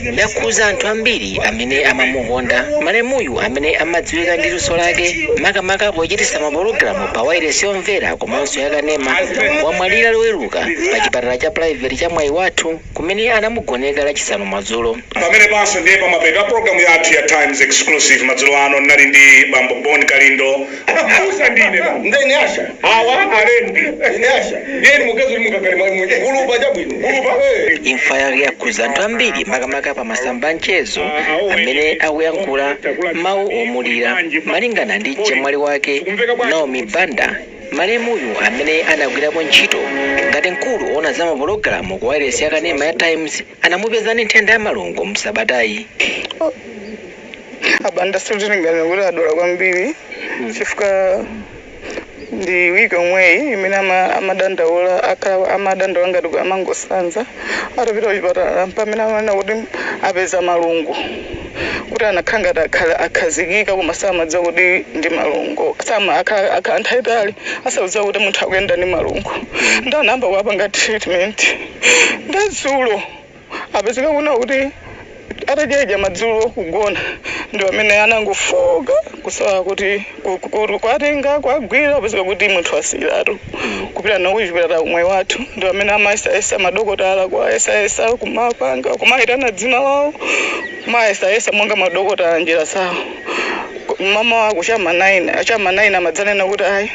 Yakhuza anthu ambiri amene amamukonda malemuyu amene amadziwika ndi luso lake makamaka pochititsa mapologalamu pa wailesi yomvera komanso ya kanema wamwalira loweruka pa chipatala cha private cha Mwaiwathu kumene anamugoneka lachisanu madzulo. Pamenepanso ndiye pamapeto a pulogalamu yathu ya Times Exclusive madzulo ano. Ndinali ndi bambo Bon Kalindo. Abusa ndine basi. Nde ine asha. Awa alembi. Ine asha. Ndiye ni mugezo ni mukakale mwa mwenye. Kulupa cha bwino. Kulupa. Hey. imfa yake yakhudza anthu ambiri makamaka pa masamba anchezo amene akuyankhula mawu omulira malingana ndi mchemwali wake naomi banda malemuyu amene anagwirapo ntchito ngati mkulu oona za mapologalamu ku wailesi yakanema ya times anamupeza ndi nthenda ya malungo msabatayi abanda sitimalingalira kuti adwala kwambiri chifukwa ndi wiki yomweyi imene ama- amadandaula aka- amadandaula ngati kuti amangosanza atapita kuchipatala pamene amanena kuti apeza malungo kuti anakhala ngati akhala- akhazikika koma samadziwa kuti ndi malungo sama akhala akhala nthawi yaitali asakudziwa kuti munthu akuyenda ndi malungo nde anayamba kuwapanga treatment nde dzulo Apezeka kunena kuti atadya idya madzulo kugona ndi pamene anangofowoka kusala kuti kuwatenga kuwagwira kupezeka kuti munthu wasiyiratu kupita nawo kuchipatala ku Mwaiwathu ndi pamene amayesayesa madokotala kuwayesayesa kumapanga kumayitana dzina lawo kumayesayesa monga madokotala njira zawo m'mamawa ku cha m'ma 9 a cha m'ma 9 amadzanena kuti ayi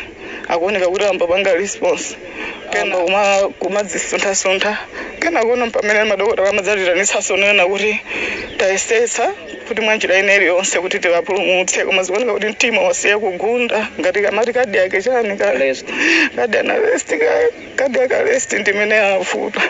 akuoneka kuti ayambopanga response kena kuma- kumadzisunthasuntha kenakono mpamene madokotala amadzatiitanitsanso kunena kuti tayesetsa kuti mwa njira ina iliyonse kuti tiwapulumutse koma zikuoneka kuti mtima wasiya kugunda ngati kamati cardiac chani ka Arrest. cardiac arrest cardiac arrest ndimene yavuta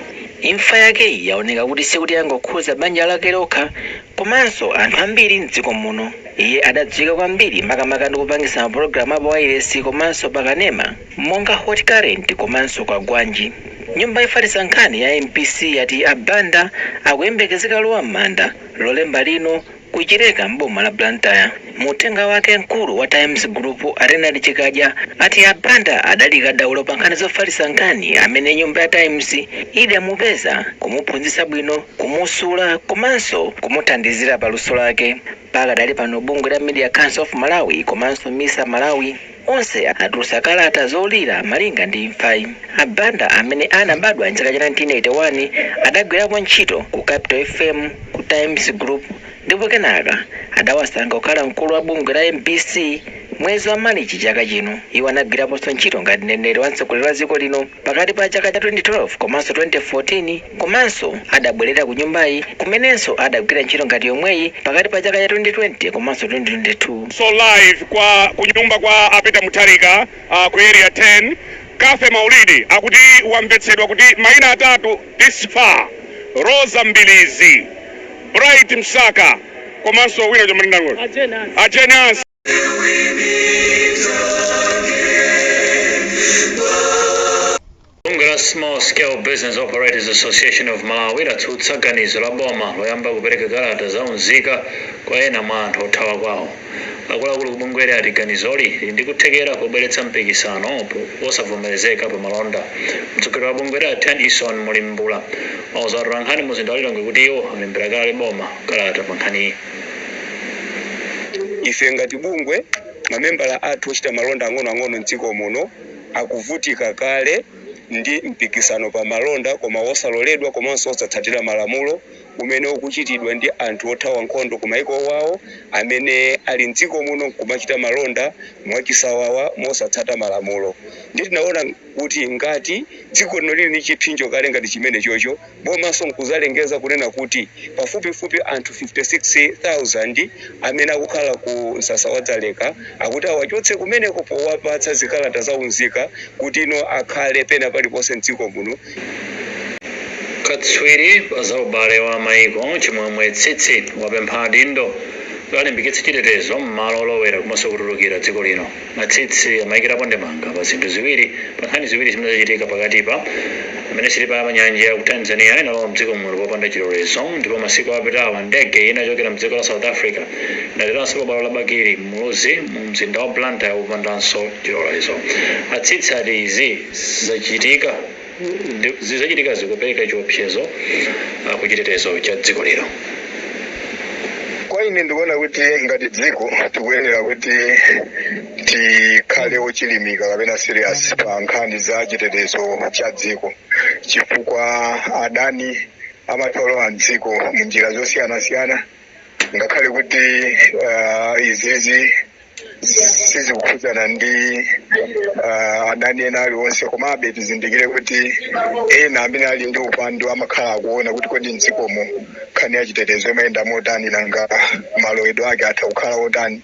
imfa yake yaoneka kuti sikuti yangokhuza banja lake lokha komanso anthu ambiri mdziko muno iye adadziwika kwambiri makamaka ndi kupangisa mapulogalamu a pawailesi komanso pakanema Monga hot current komanso Kwagwanji, nyumba yofalitsa nkhani ya mbc yati a Banda akuyembekezeka kulowa m'manda Lolemba lino ku Chileka m'boma la Blantyre. Mu uthenga wake mkulu wa Times Group a Leonard Chikadya ati a Banda adali kadaulo pa nkhani zofalitsa nkhani amene nyumba ya Times idamupeza, kumuphunzitsa bwino, kumusula komanso kumuthandizira pa luso lake. Pakadali pano bungwe la Media Council of Malawi komanso misa Malawi onse atulutsa kalata zomulira malinga ndi imfayi. A Banda amene anabadwa m'chaka cha 1981 adagwirapo ntchito ku Capital FM, ku Times Group ndipo kenaka adawasankha kukhala mkulu wa bungwe la mbc mwezi wa Malichi chaka chino. Iwo anagwiraponso ntchito ngati mneneri wa mtsogoleri wa dziko lino. pakati pa chaka cha 2012 komanso 2014 komanso adabwelera ku nyumbayi kumenenso adagwira ntchito ngati yomweyi pakati pa chaka cha 2020 komanso 2022. so live kwa kunyumba kwa a Peter Mutharika uh, ku area 10 Cathy Maulidi akuti wamvetsedwa kuti maina atatu this far Rosa Mbilizi Bright Msaka komanso wina chomwe ndinangoti a Jane Ansah Bungwe la Small Scale Business Operators Association of Malawi latsutsa ganizo la boma loyamba kupereka kalata za unzika kwa ena mwa anthu othawa kwawo. Akuluakulu ku bungweli ati ganizoli lili ndi kuthekera kobweretsa mpikisano wosavomerezeka pa malonda. Mtsogoleri wa bungweli a Tennyson Mulimbula wauza atolankhani muzinda wa Lilongwe kuti iwo alembera kale boma kalata pa nkhaniyi. Ife ngati bungwe, mamembala athu ochita malonda ang'onoang'ono m'dziko muno akuvutika kale ndi mpikisano pa malonda koma wosaloledwa komanso wosatsatira malamulo umene ukuchitidwa ndi anthu othawa nkhondo kumayiko awo amene ali m'dziko muno n'kumachita malonda mwachisawawa mosatsata malamulo. Ndiye tinaona. kuti ngati dziko lino lili ndi chiphinjo kale ngati chimenechocho, bomanso nkudzalengeza kunena kuti pafupifupi anthu 56,000 amene akukhala ku msasa wa Dzaleka akuti awachotse kumeneko powapatsa zikalata za unzika kuti tsopano akhale pena paliponse m'dziko muno. Katswiri pa za ubale wa maiko Chimwemwe Tsitsi wapempha adindo kuti alimbikitse chitetezo m'malo olowera komanso kutulukira dziko lino. A Tsitsi amaikirapo ndemanga pa zinthu ziwiri, pa nkhani ziwiri zimene zachitika pakatipa, Pamene sitima ya pa nyanja ya ku Tanzania inalowa mdziko muno popanda chilolezo ndipo masiku apitawa ndege ina yochokera mdziko la South Africa inateranso pa bwalo la Bakili Muluzi mu mzinda wa Blantyre popandanso chilolezo. A Tsitsi ati izi zachitika. Ndi, zozachitika zikupereka chiopsezo ah, ku chitetezo cha dziko lino. Kwa ine ndikuona kuti ngati dziko tikuyenera kuti tikhale ochilimika kapena serious pa nkhani za chitetezo cha dziko chifukwa adani amatha kulowa mdziko mu njira zosiyanasiyana ngakhale kuti uh, izizi sizikukhudzana ndi uh, adani ena aliwonse komabe tizindikire kuti ena amene ali ndi upandu amakhala akuona kuti kodi mdzikomo nkhani ya chitetezo imayenda motani nanga malowedwe ake atha kukhala otani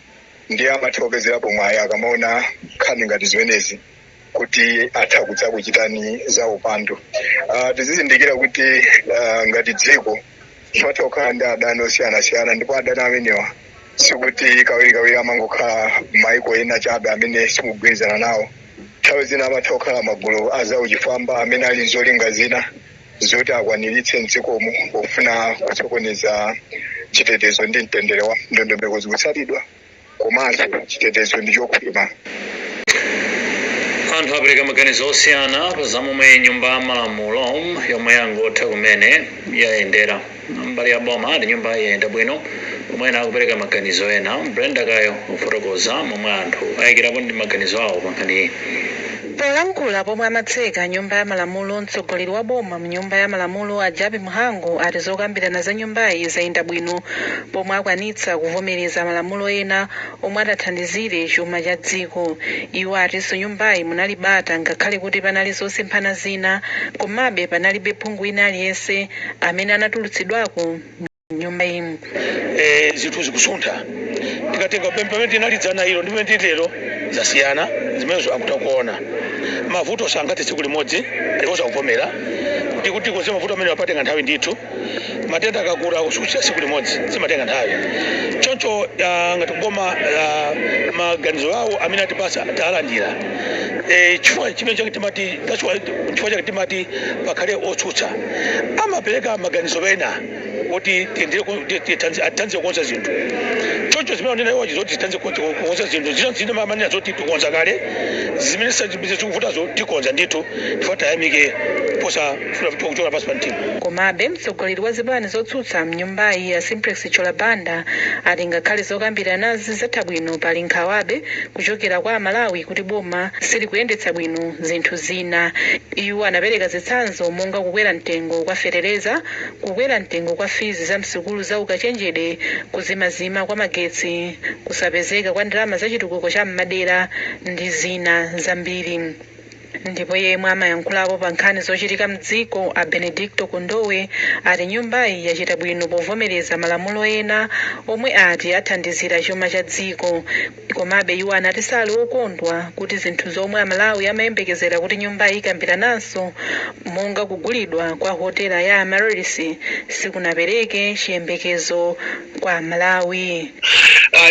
ndiye amatha kupezerapo mwayi akamaona nkhani ngati zimenezi kuti atha kudzakuchitani za upandu uh, tizizindikira kuti uh, ngati dziko timatha kukhala ndi adani osiyanasiyana ndipo adani amenewa sikuti kawirikawiri amangokhala maiko ena chabe amene simugwirizana nawo nthawi zina amatha kukhala magulu azauchifwamba amene ali ndi zolinga zina zoti akwaniritse mdzikomo pofuna kusokoneza chitetezo ndi mtendere wa- ndondomeko zikutsatidwa komanso chitetezo ndi chokhwima. Anthu apereka maganizo osiyana pa za momwe nyumba ya malamulo yomwe yangotha kumene yayendera. Mbali ya boma ati nyumbayi yayenda bwino pomwe ena akupereka maganizo ena. Brenda Kayo akufotokoza momwe anthu ayikirapo ndemanga ndi maganizo awo pa nkhaniyi. Polankhula pomwe amatseka nyumba ya malamulo, mtsogoleri wa boma mnyumba ya malamulo a Jappie Mhango ati zokambirana za nyumbayi zayenda bwino pomwe akwanitsa kuvomereza malamulo ena omwe atathandizire chuma cha dziko. Iwo atinso nyumbayi munali bata ngakhale kuti panali zosemphana zina komabe panalibe phungu wina aliyense amene anatulutsidwako mu. nyumba imu eh, zinthu zikusuntha tikatenga pem- pamene tinali dzana ilo ndi pamene tili lero zasiyana zimenezo akutha kuona mavuto sangathe tsiku limodzi alikonse akuvomera kuti kulikonse mavuto amene apatenga nthawi ndithu matenda akakula kuchiza tsiku limodzi zimatenga nthawi choncho ah, ngati kuboma ah, maganizo awo amene atipatsa talandira Eh, chifukwa chimene chake timati that's why- chifukwa chake timati pakhale otsutsa amapereka maganizo ena kuti tiyendeyo ku- ti- ti- thandiz- athandize kukonza zinthu choncho zimene anena iwozi zoti zithandize ku- ku- kukonza zinthu zina zina amanena zoti tikonza kale zimene sazibize zikuvutazo tikonza ndithu chifukwa tayamike posafuna kuti kuchoka pansi pa mtima komabe mtsogoleri wa zipani zotsutsa mnyumbayi a Simplex Chithyola Banda ati ngakhale zokambiranazi zatha bwino pali nkhawabe kuchokera kwa amalawi kuti boma silikuyendetsa bwino zinthu zina iwo anapereka zitsanzo monga kukwera mtengo kwa fetereza Kukwera mtengo kwa fizi za msukulu za ukachenjede, kuzimazima kwa magetsi, kusapezeka kwa ndalama za chitukuko cha m'madera ndi zina zambiri. Ndipo yemwe amayankhulapo pa nkhani zochitika m'dziko a Benedicto Kondowe ati nyumbayi yachita bwino povomereza malamulo ena omwe ati athandizira chuma cha dziko. Komabe iwo anati sali okondwa kuti zinthu zomwe Amalawi amayembekezera kuti nyumbayi ikambirananso monga kugulidwa kwa hotela ya Amaryllis sikunapereke chiyembekezo kwa Amalawi.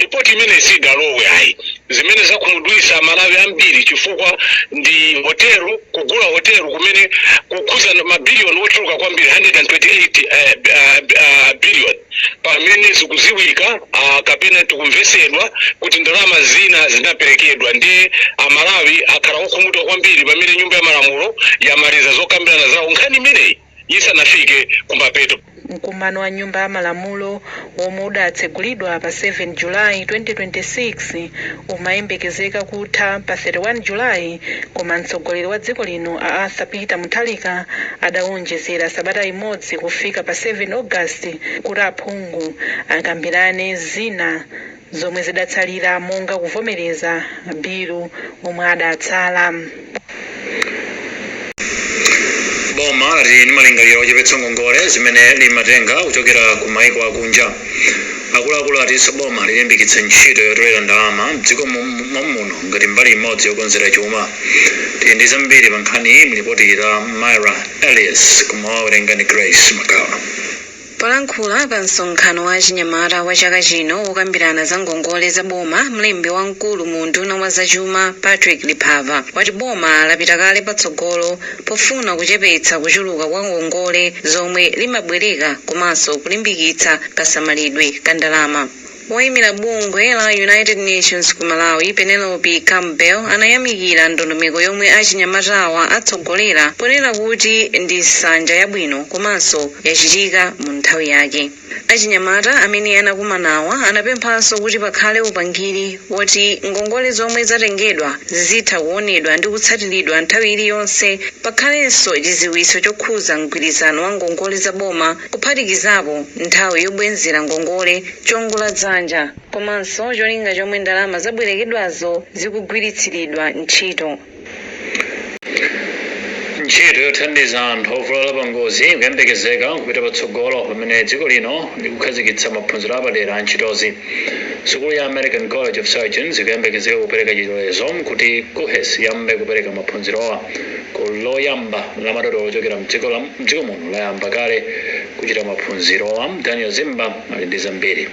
Report imeneyi sidalowe ayi. Zimene zakhumudwitsa amalawi ambiri chifukwa ndi hotel, kugula hotel kumene kukukhudza ma billion ochuluka kwambiri 128 billion. pamene zikuziwika kapena tikumvetsedwa kuti ndalama zina zinaperekedwa ndiye amalawi akhala okhumudwa kwambiri pamene nyumba ya malamulo yamaliza zokambirana zawo nkhani imeneyi isanafike kumapeto Mkumano wa Nyumba ya Malamulo womwe udatsegulidwa pa 7 July 2026 umayembekezeka kutha pa 31 July koma mtsogoleri wa dziko lino a Arthur Peter Mutharika adawu onjezera sabata imodzi kufika pa 7 August kuti aphungu akambirane zina zomwe zidatsalira monga kuvomereza mabilu omwe adatsala. Boma lati ndi malingaliro ochepetsa ngongole zimene limatenga kuchokera ku maiko akunja. Akuluakulu atinso boma lilimbikitsa ntchito yotolera ndalama m'dziko momuno ngati mbali imodzi yokonzera chuma. Tili ndi zambiri pa nkhaniyi m'lipoti la Myra Elias koma wawerenga ndi Grace Magawa. Polankhula pa msonkhano wa achinyamata wa chaka chino wokambirana za ngongole za boma, mlembi wamkulu mu unduna wa zachuma Patrick Liphava wati boma lapita kale patsogolo pofuna kuchepetsa kuchuluka kwa ngongole zomwe limabwereka komanso kulimbikitsa kasamalidwe ka ndalama. Woimira bungwe la United Nations ku Malawi, Penelope Campbell, anayamikira ndondomeko yomwe achinyamatawa atsogolera ponena kuti ndi nsanja yabwino komanso yachitika mu nthawi yake. Achinyamata amene anakumanawa anapemphanso kuti pakhale upangiri woti ngongole zomwe zatengedwa zizitha kuonedwa ndi kutsatiridwa nthawi iliyonse, pakhalenso chidziwitso chokhuza mgwirizano wa ngongole za boma kuphatikizapo nthawi yobwenzera ngongole, chiongoladzanja komanso cholinga chomwe ndalama zabwerekedwazo zikugwiritsiridwa ntchito. Ntchito yothandiza anthu ovulala pangozi ikuyembekezeka kupita patsogolo pamene dziko lino likukhazikitsa maphunziro apadera a ntchitozi. Sukulu ya American College of Surgeons ikuyembekezeka kupereka chilolezo kuti KUHeS iyambe kupereka maphunzirowa. Gulu loyamba la madotolo ochokera m'dziko muno layamba kale kuchita maphunzirowa. Daniel Zimba ali ndi zambiri.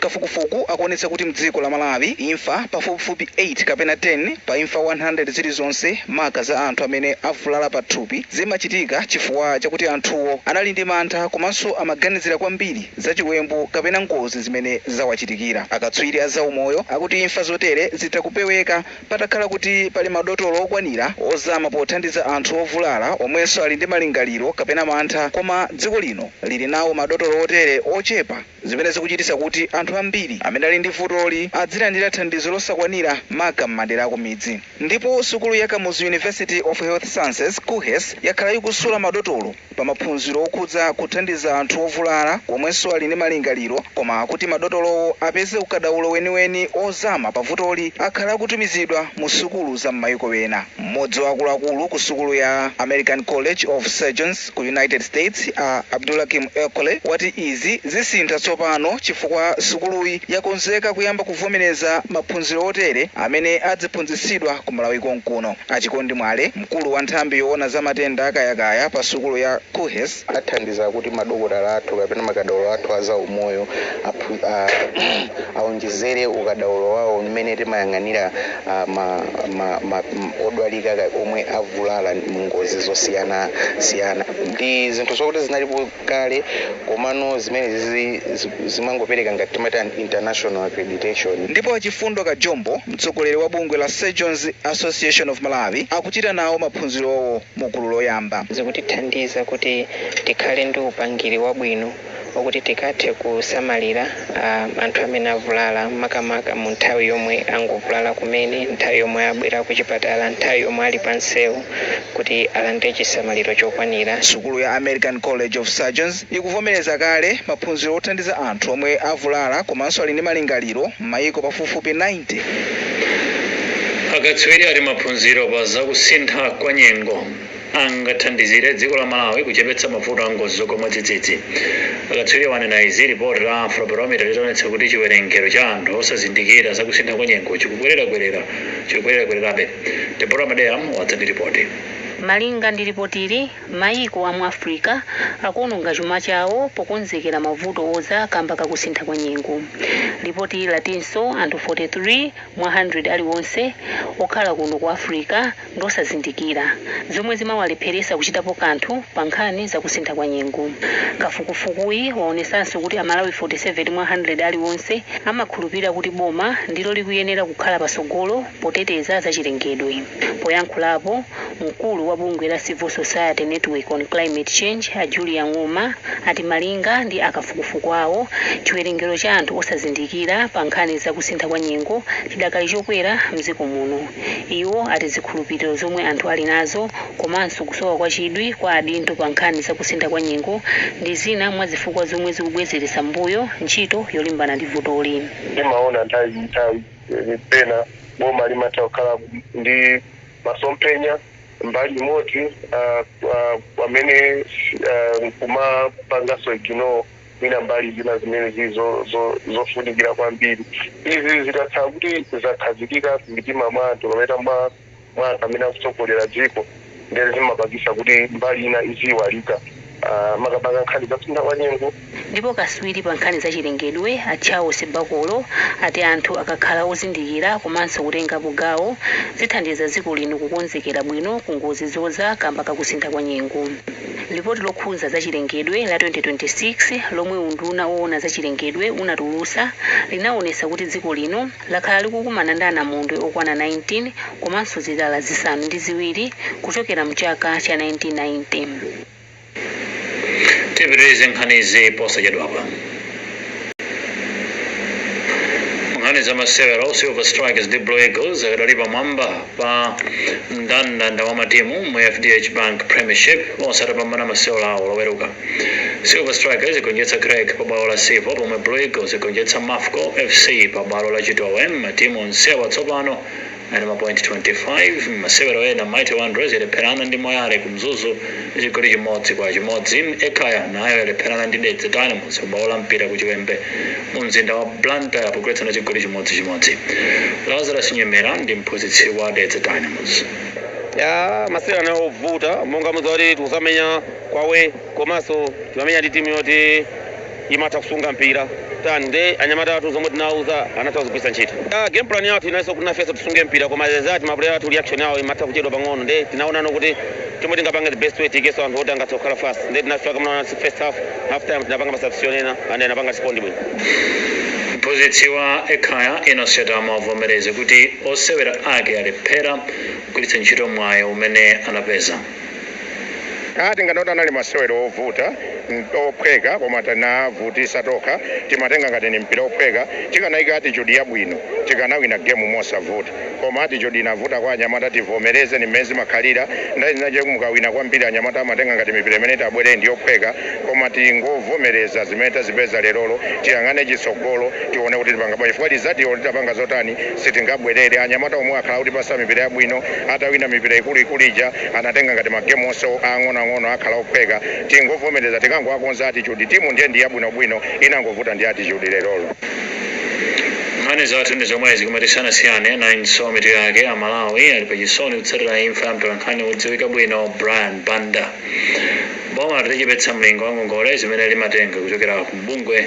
Kafukufuku akuonetsa kuti mdziko la Malawi imfa pafupifupi 8 kapena 10 pa imfa 100 zilizonse maka za anthu amene avulala pathupi zimachitika chifukwa chakuti anthuwo anali ndi mantha komanso amaganizira kwambiri za chiwembu kapena ngozi zimene zawachitikira. Akatswiri a zaumoyo akuti imfa zotere zitha kupeweka Patakhala kuti pali madotolo okwanira ozama pothandiza anthu ovulala omwenso ali ndi malingaliro kapena mantha koma dziko lino lili nawo madotolo otere ochepa zimene zikuchititsa kuti anthu ambiri amene ali ndi vutoli adzilandira thandizo losakwanira maka m'madera akumidzi ndipo sukulu ya Kamuzu University of Health Sciences, KUHeS, yakhala ikusula madotolo. pa maphunziro okhudza kuthandiza anthu ovulala omwenso ali ndi malingaliro koma kuti madotolowo apeze ukadaulo weniweni ozama pa vutoli akhala akutumizidwa mu sukulu za mmayiko ena. Mmodzi wa akuluakulu ku sukulu ya American College of Surgeons ku United States a Abdulhakim Elkholy wati izi zisintha tsopano chifukwa sukuluyi yakonzeka kuyamba kuvomereza maphunziro otere amene adziphunzitsidwa ku Malawi konkuno. A Chikondi Mwale. Mkulu wa nthambi yoona za matenda a kayakaya pa sukulu ya KUHeS, athandiza kuti madokotala athu kapena makadaulo athu a zaumoyo awonjezere ukadaulo wawo mmene timayang'anira odwalika omwe avulala mu ngozi zosiyana siyana ndi zinthu zokuti zinalipo. kale komano zimenezi zimangopereka ngati timatani international accreditation ndipo a Chifundo Kajombo mtsogoleri wa bungwe la Surgeons Association of Malawi akuchita nawo maphunzirowo mu gulu loyamba. zikutithandiza kuti tikhale ndi upangiri wabwino okuti tikathe kusamalira. a anthu amene avulala makamaka mu nthawi yomwe angovulala kumene, nthawi yomwe abwera kuchipatala, nthawi yomwe ali pa msewu kuti alandire chisamaliro chokwanira. Sukulu ya American College of Surgeons ikuvomereza kale maphunziro othandiza anthu omwe avulala komanso ali ndi malingaliro m'mayiko pafupifupi 90. Akatswiri ati maphunziro pa za kusintha kwa nyengo. angathandizire dziko la Malawi kuchepetsa mavuto a ngozi zogwa mwadzidzidzi. Akatswiriwa anena izi lipoti la Afrobarometer litaonetsa kuti chiwerengero cha anthu osazindikira za kusintha kwa nyengo chikukwererakwerera chikukwererakwererabe. Deborah Madeya wadza ndi lipoti. Malinga ndi lipotili, mayiko a mu Africa akuononga chuma chawo pokonzekera mavuto odza kamba ka kusintha kwa nyengo. Lipotili latinso anthu 43 mwa 100 aliwonse okhala kuno ku Africa, ndi osazindikira, zomwe zimawalepheretsa kuchitapo kanthu pa nkhani za kusintha kwa nyengo. Kafukufukuyi waonetsanso kuti a Malawi 47 mwa 100 aliwonse amakhulupirira kuti boma ndilo likuyenera kukhala patsogolo poteteza za chilengedwe. Poyankhulapo, mkulu wa bungwe la Civil Society Network on Climate Change a Julius Ng'oma ati malinga ndi a kafukufuku awo, chiwerengero cha anthu osazindikira pa nkhani za kusintha kwa nyengo chidakali chokwera mdziko muno. Iwo ati zikhulupiliro zomwe anthu ali nazo komanso kusowa kwa chidwi kwa adindo pa nkhani za kusintha kwa nyengo ndi zina mwa zifukwa zomwe zikubwezeretsa m'mbuyo ntchito yolimbana ndi vutoli. Timaona nthawi ndi nthawi kuti pena boma limatha kukhala ndi masomphenya mbali imodzi pamene nkumapanganso ignore. mwina mbali zina zimene zili zo- zo- zofunikira kwambiri izi zikakhala kuti zakhazikika m'mitima mwa anthu kapena mwa mwa anthu amene akutsogolera dziko ndiye zimapangisa kuti mbali ina iziyiwalika Ah, makamaka nkhani zakusintha kwa nyengo ndipo kaswiri pa nkhani za chilengedwe a charles bakolo ati anthu akakhala ozindikira komanso kutengapo gawo zithandiza dziko lino kukonzekera bwino ku ngozi zoza kamba kakusintha kwa nyengo Lipoti lokhudza zachilengedwe la 2026 lomwe unduna owona zachilengedwe unatulutsa linaonetsa kuti dziko lino lakhala likukumana ndi anamondwe okwana 19 komanso zilala zisanu ndi ziwiri kuchokera mchaka cha 1990. Tipitirize nkhanizi posachedwapa. nkhani za masewero silver strikers ndi blue eagles akadali pamwamba pa mndandanda wa matimu mu fdh bank premiership onse atapambana masewero awo loweruka silver strikers igonjetsa Creck pa bwalo la silver pomwe blue eagles igonjetsa mafco fc pa bwalo la chitowe matimu onsewa tsopano ali ndi ma point 25 mmasewero ena Mighty Wanderers yalepherana ndi Moyale ku Mzuzu ndi chigoli chimodzi kwa chimodzi. Ekhaya nayo yalepherana ndi Dedza Dynamos pa bwalo la Mpira ku Chiwembe mu mzinda wa Blantyre pogwetsana chigoli chimodzi chimodzi. Lazarus Nyemera ndi mphunzitsi wa Dedza Dynamos. Ya masewero anali ovuta monga mukudziwa kuti timamenya away komanso timamenya ndi timu yoti imatha kusunga mpira tani nde anyamata athu zomwe tinawuza anatha kuzigwiritsa ntchito ah, game plan yathu inanso kuti nafenso tisunge mpira koma zimakhala ngati mapuleya athu reaction yawo imatha kuchedwa pang'ono nde tinaonano kuti chomwe tingapange the best way tiikeso anthu oti angathe kukhala fast nde tinafika mnaona first half half time tinapanga masubstitution ena and anapanga respondi bwino mphunzitsi wa ekhaya Enos Chatama wavomereza kuti osewera ake alephera kugwiritsa ntchito mwayi umene anapeza a tinganene kuti anali masewero ovuta mm, ophweka koma tinavutisa tokha timatenga ngati ni mpira ophweka tikanayika attitude yabwino tikanawina game mosavuta koma attitude inavuta kwa anyamata tivomereze ni mmene zimakhalira nthawi zinazake mukawina kwambiri anyamata amatenga ngati mipira imene itabwereyi ndi yophweka koma tingovomereza zimene tazipeza lerolo tiyang'ane chitsogolo tione kuti tipanga bwanji chifukwa result-yo palibe tingapange zotani sitingabwerere. Anyamata omwewo akhala akutipatsa mipira yabwino atawina mipira ikulu ikulu ija anatenga ngati ma game onse aang'ono ang'ono akhala ophweka tingovomereza tikangowakonza attitude timu ndiye ndi yabwino bwino inangovuta ndi attitude lerolo. Nkhani zathu ndi zomwezi koma tisanasiyane nayinso mitu yake, a Malawi ali pa chisoni kutsatira imfa ya mtolankhani wodziwika bwino Brian Banda. Boma lati lichepetsa mlingo wa ngongole zimene limatenga kuchokera ku bungwe.